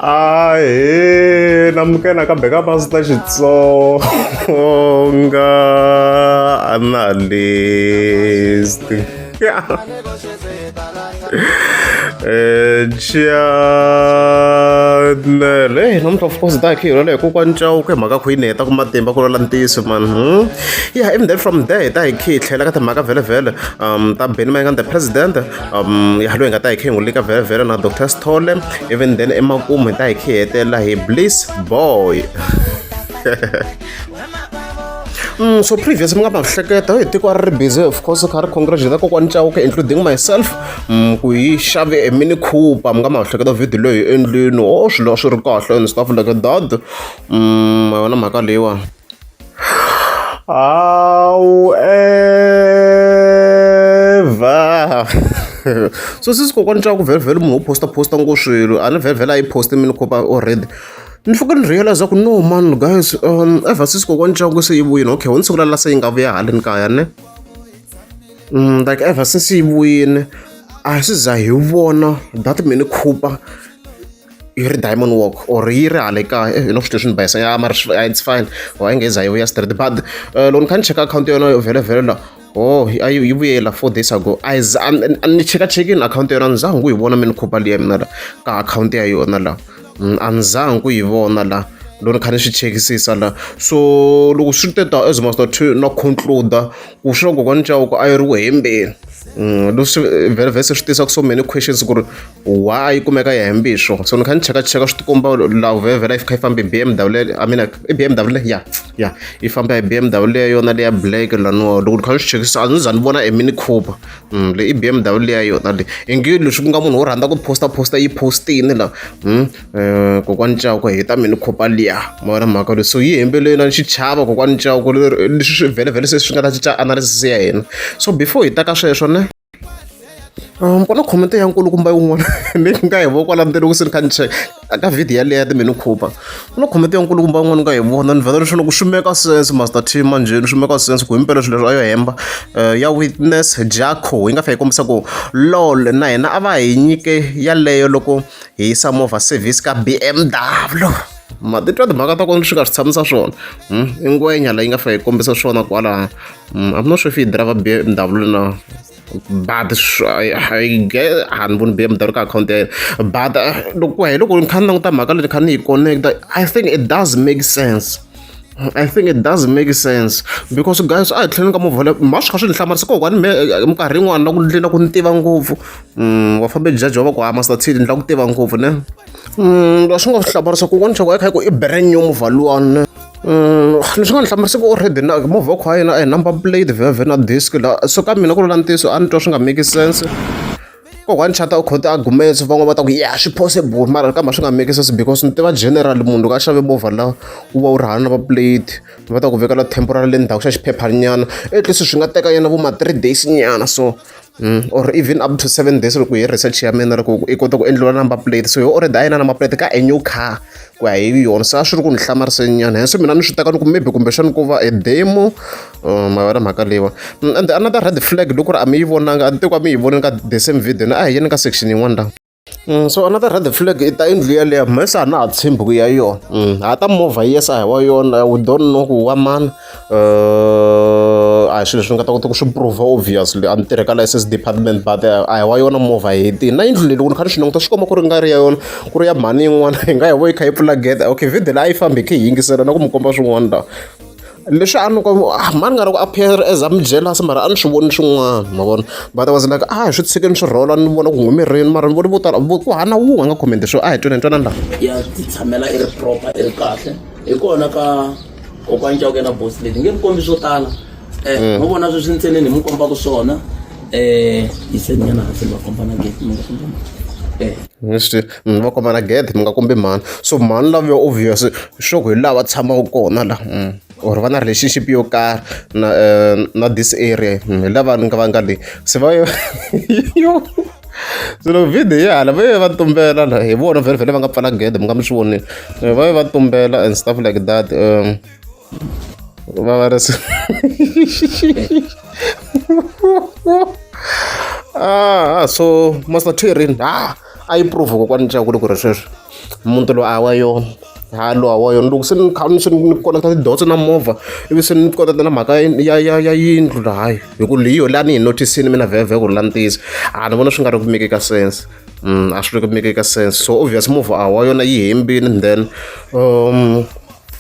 a he na mukena ka beka pasi ta xitsonga analyst chanele eh, namuntlha of course dak hi rona hi kokwani cawuka hi mhaka khuyini hi heta ku matimba ku lola ntiyiso mani hmm? ya even then from there hi ta hi khi hi tlhela ka timhaka vhele vhele um ta beni mayingani the president um ya loyi hi nga ta hi khe hi n'wi lika vhelavhela na dr stole even then emakumu hi ta hi khe hetelela hi bliss boy Mm, so previous mi nga ma hleketa hi tiko a ri ri busy of course kha ri congratulate kokwani chauke including myself mm, ku yi xave e mini cooper mi nga ma hleketa video leyi endlwini o oh, swilo swi ri kahle and stuff like that mm, yona mhaka leyiwani however so sisi kokwani xa ku vhelivheli munhu wo posta posta ngo swilo a ni vhelivheli a yi poste mi ni kopa already ni fika ni realize ku no man guys um ever sisi kokwani xa ku se yi vuyini okay ho ni siku lala se yi nga vuya haleni kaya ne um like ever since yi vuyini a swi za hi vona that mi ni khupa yi ri diamond walk or yi ri hale kaya eh, hi no swilo leswi ni bayisa ya mara it's fine or a nge za yi vuya straight but eh, loko ni kha ni cheka akhawunti yona yo vhele vhele la oh a yi yi vuyela four days ago a ni cheka chekini akhawunti yona a ni zanga ku yi vona mi ni khopa liya mina la ka akhawunti ya yona la mm, a ni zanga ku yi vona la loko ni kha ni swi chekisisa la so loko swi ri teta as master two na concluda ku swi na kokwani cawoko a yi ri ku hembeni mm, leswi vhele vhese swi tisa ku so many questions ku ri wa a yi kumeka ya hembiswo so ni kha ni cheka cheka swi tikomba law vhevhela yi kha yi fambe bmw leyo i mean i bmw leyo ya ya yi famba hi bmw leyo yona leya black laniwa loko ni kha ni swi chekisisa a ni za ni vona e mini cooper um leyi i bmw leya yona leyi ingi leswi ku nga munhu wo rhandza ku posta posta yi postini la um kokwani cawuko hi ta mini cooper liya ma vona mhaka leyi so yi hembele yona xi chava kokwani cawuko leswi swi vhele vhele se swi nga ta cinca analysis ya hina so before hi ta ka sweswo ne mpfula khomente ya nkulukumba yin'wana ni nga hi vona kwala ndzeni loko se ni kha ni cheka ka vhidiyo yaleyo ya timenu khupa ku na khomente ya nkulukumba yin'wana ni nga hi vona ni vhela leswi loko swi meka sense master team manjheni swi meka sense ku himpela swilo leswi a yo hemba eh, ya witness jaco yi nga fa yi kombisa ku lol na hina a va hi nyike yaleyo loko hi yisa movha service ka bmw matitwa timhaka ta kona swi nga swi tshamisa swona hmm? i ngwenya leyi nga fa yi kombisa swona kwalaha Mm, I'm not sure if he drive a BMW now. But I, I get and wouldn't be able account there. But uh, look, why look, we can't know that Magali can connect. I think it does make sense. I think it does make sense because guys a hi tlheleni ka muvhele ma swi kha swi ni hlamarisa ko kwani minkarhi yin'wana na ku ndlela ku ni tiva ngopfu mm, wa fambe jaji wa va ku hama sathini ndlela ku tiva ngopfu ne mm, swi nga swi hlamarisa ku kona chako ya kha yi ku i brand new muvha luwani Leswi nga ni hlamarisa ku already na movha wa kha wa yena a hi number plate vhe vhe na disc la so ka mina ku ri na ntiyiso a ni twa swi nga make sense kokwani chata u khote arguments van'wana va ta ku ya swi possible mara kambe swi nga make sense because ni tiva general munhu loko a xave movha la wu va wu ri hana number plate va ta ku vekela temporary le ndzhaku xa xiphephanyana at least swi nga teka yena vo ma three days nyana so or even up to seven days loko hi research ya mina loko i kota ku endliwa number plate so yo already a yi na number plate ka a new car ku ya hi yona se a swi ri ku ni hlamarisenyana henso mina ni swi teka ni ku maybe kumbexana ku va e demo uh, ma yona mhaka leyiwa mm, and another red flag loko ri a mi yi vonanga a ni teku a mi yi vonini ka the same video ni a hi yeni ka section yin'wana la Mm, so another red flag i ta yindlu yaleyo mhese a na ha tshembi ku ya yona mm, ha ta movha yes a hi wa yona we don't know ku wa mani eh, a hi swilo leswi ni nga ta kota ku swi prova obviously a ni tirhe ka license department but eh, a hi wa yona movha hi ti na yindlu leyi loko ni kha ni swi languta swi komba ku ri nga ri ya yona ku ri ya mhani yin'wana hi nga hi vo yi kha yi pfula gede okay video leyi a yi fambi hi khe hi yingisela na ku mi komba swin'wana lawa leswi a ni ku ah, mani nga ri ku appear as a mi jealous mara a ni swi voni swin'wana ma vona but i was like a ah, hi swi tshike ni swi rhola ni vona ku humerini mara ni voni vo tala ku hana wun'we a nga khomente swo a ah, hi twenani twanani laha ya ti tshamela i ri proper i ri kahle hi kona ka kokwana cawuke na bosi leti nge mi kombi swo tala um eh, mm. ma vona sweswi ntseneni hi mi kombaka swona um eh, hi seninyana hansi ni va komba na gate mi nga komba um eh. mi va komana gede mi nga kombi mhani so mhani love yo obvious sure ku hi laha va tshamaka kona la mm. or va na relationship yo karhi na eh, na this area mm, hi lava ni nga va nga leyi se va yo swilo video ya hala va ye va tumbela la hi vona vhele vhele va nga pfala gede mi nga mi swi vonile eh, va ye va tumbela and stuff like that um va va ri ah so master tirin ah a yi prove kokwani leswaku ri ku ri sweswi muti loyi a wa yona ha loyi a wa yona loko se ni kha ni se ni koneketa tidotso na movha ivi se ni koneketa na mhaka ya ya ya yindlu lahayi hi ku leyi yo laha ni yi notisini mina vhevhe ku ri la ni tiyisa a ni vona swi nga ri ku make ka sense mm, a swi ri ku make ka sense so obvious movha a wa yona yi hembini then um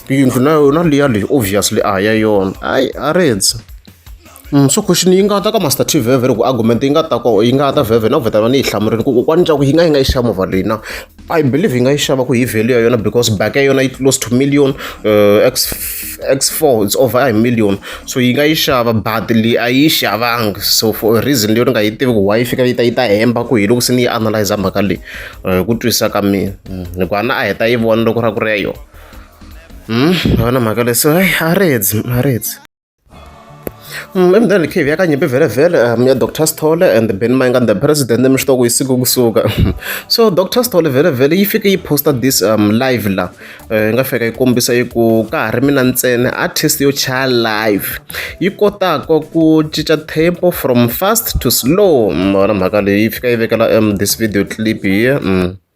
yindlu na yona liya leyi obviously a ya yona hayi a ri ndzi so question yi nga ta ka master t veve loko argument yi nga ta ko yi nga ta veve na ku vheta vana yi hlamurini ku kokwani ncaku yi nga yi nga yi xava movha leyi na i believe yi nga yi xava ku hi value ya yona because back ya yona yi close to million uh, x x four it's over a hi million so yi nga yi xava but leyi a yi xavanga so for a reason leyo ni nga yi tivi ku why yi fika yi ta yi ta hemba ku hi loko se ni yi analyza mhaka leyi hi ku twisisa ka mina hikuva na a heta yi vona loko ra ku ri ya yona vona mhaka leyi so hayi a ri hedzi a ri hedzi emdala ikhivi yakanyimpi vele vele um ya dr sithole and ben mayinga the president emishitoko yisiku kusuka so dr sithole vele vele yi fike yi posta this um live la eh, yi nga fika yi kombisa yi ku ka ha ri mina ntsena artist yo chaya live yi kotaka ku cinca tempo from fast to slow mona mhaka leyi yi fika yi vekela um this video clip here mm.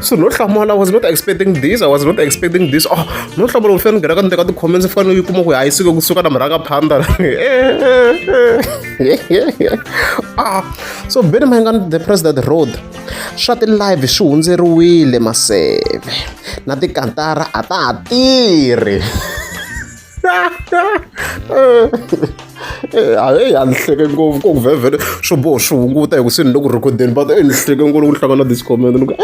so no hlamula was not expecting this i was not expecting this oh no hlamula ufana ngena ka ndeka ti-comments fana yi kuma ku hayi sike kusuka na murhaka phanda ah so beni maingani the president road swa ti-live swi hundzeriwile maseve na tikantara a ta ha tirhi hayi a ni hleke ngopfu ko ku vhevhele swo boho swi hunguta hi ku se ni le ku rhekodeni but e ni hleke ngopfu loko ni hlangana na this comment ni ku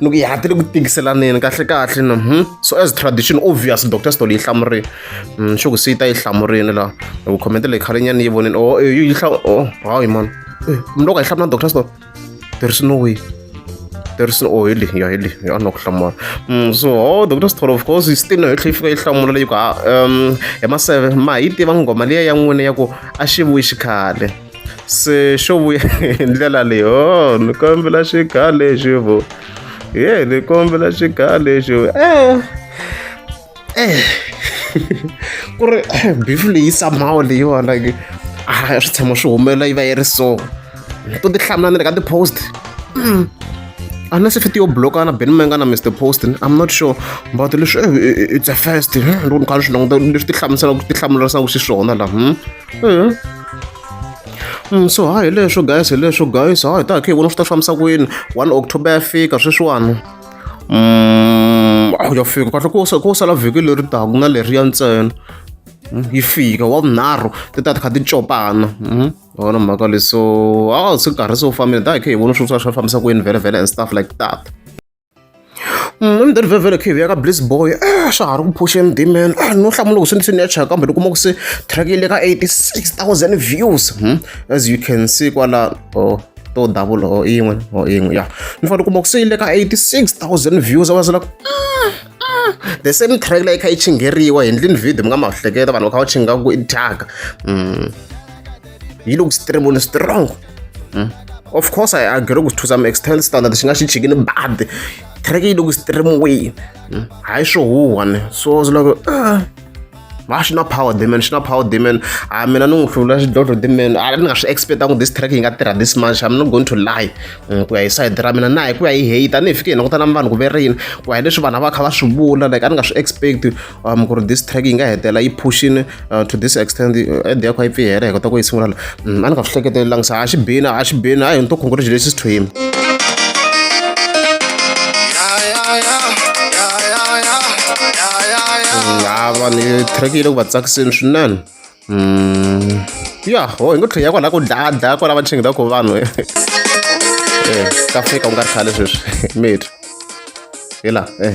ni ku yati le ku tikiselaneni kahle kahle ni hmm? so as tradition obvious dr stol yi hlamurile hmm, xo ku se yi ta yi hlamurile laha hi ku comment leyi khale nyana yi vonini o yi hlamu o hayi mani mi loko a yi hlamula dr stol there is no way there is no oh heli ya heli ya na ku hlamula mm, so oh dr sitholo of course yi still no yi tlhe yi fika yi hlamula leyi ku um hi maseve ma hi tiva nghoma liya ya n'wina ya ku a xi vuyi xikhale se xo vuya hi ndlela leyi o oh, ni kombela xikhale xi vu ye ni kombela xikhale xi vu e eh. eh ku ri beef leyi somehow leyiwa like a swi tshama swi humelela yi va yi ri so to ti hlamula ni le ka ti-post mm. a na se fiti yo bloka na ben menga na mr post i'm not sure but leswi eh, eh, eh, it's a first loko ni kha swi languta leswi ti hlamuselaka ti hlamularisaka xiswona laha hmm? hmm. hmm, so ha hi leswo guys hi leswo guys ha hi ta khe hi vona swi ta fambisa kwini one october ya fika sweswiwani mm, a ya fika kahle ku ku sala vhiki leri taka na leriya ntsena mm, yi fika wa vunharhu ti ta ti kha ti copana mm, wona mhaka leswo a swi karhi swo fambile da hi kha hi vona swi swa swi fambisa ku yini vhele vhele and stuff like that emdeni vhevhele khe hi ya ka bliss boy eh, swa ha ri ku phusha emdimeni eh, no hlamula loko swi ni swi ni ya cheka kambe ni kuma ku se track yi le ka 86000 views hmm? as you can see kwala or to double or yin'we or yin'we ya ni fanele kuma ku se yi le ka 86000 views a va zela the same track leyi kha yi chingheriwa hi ndlini video mi nga ma hleketa vanhu va kha va chinga ku i thyaka mm. yi le ku streamuni strong mm. of course i agree ku to some extent standard xi nga xi chikini bad track yi le ku streamiweni mm. hayi swo huhwa ni so ziloko va swi na power demon swi na power demon a ah, mina ni n'wi hlula xidlodlo demon a ah, ni nga swi expectanga ku this track yi nga tirha this much i'm not going to lie mm, ku ya hi side ra mina na hi ku ya hi hate a ni hi fike hi langutana vanhu ku ve rini ku ya hi leswi vanhu va kha va swi vula like a ni nga swi expect um ku ri this track yi nga hetela yi pushini uh, to this extent uh, ed ya kha yi pfihela hi kota ku yi sungula Mm, a ni nga swi hleketelanga sa a xi bini a xi bini hayi ni to congratulations to him ha vanhu track yi le ku va tsakiseni swinene mm. ya ho hi ngo tlhe ya kwalaho ku dlaya dlaya kwalaho va chingela ku vanhu eh, ka fika u nga ri khale sweswi mate hi laha eh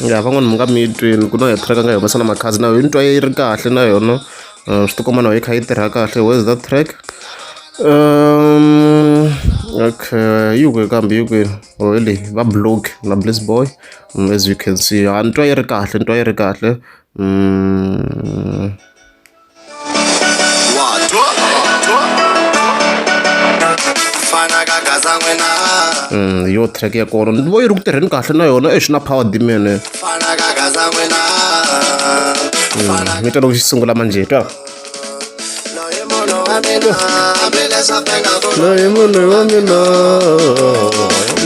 ya van'wani mi nga mi yi twini ku na hi track a nga yi humesa na makhadzi na yo ni twa yi ri kahle na yona eh, swi tikomba na yi kha yi tirha kahle where is that track um okay yi kwe kambe yi kwini or oh, le va blog na bliss boy mm, as you can see a ah, ni twa yi ri kahle ni twa yi ri kahle mm. yo track ya kona ni vo yi ri ku tirheni kahle na yona exi na power dimene mi twa loko xi sungula manje twa loyi munhu wa mina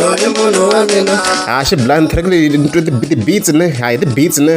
loyi munhu wa mina ha xi blind track leyi ni twe ti-beats ne ha hi ti-beats ne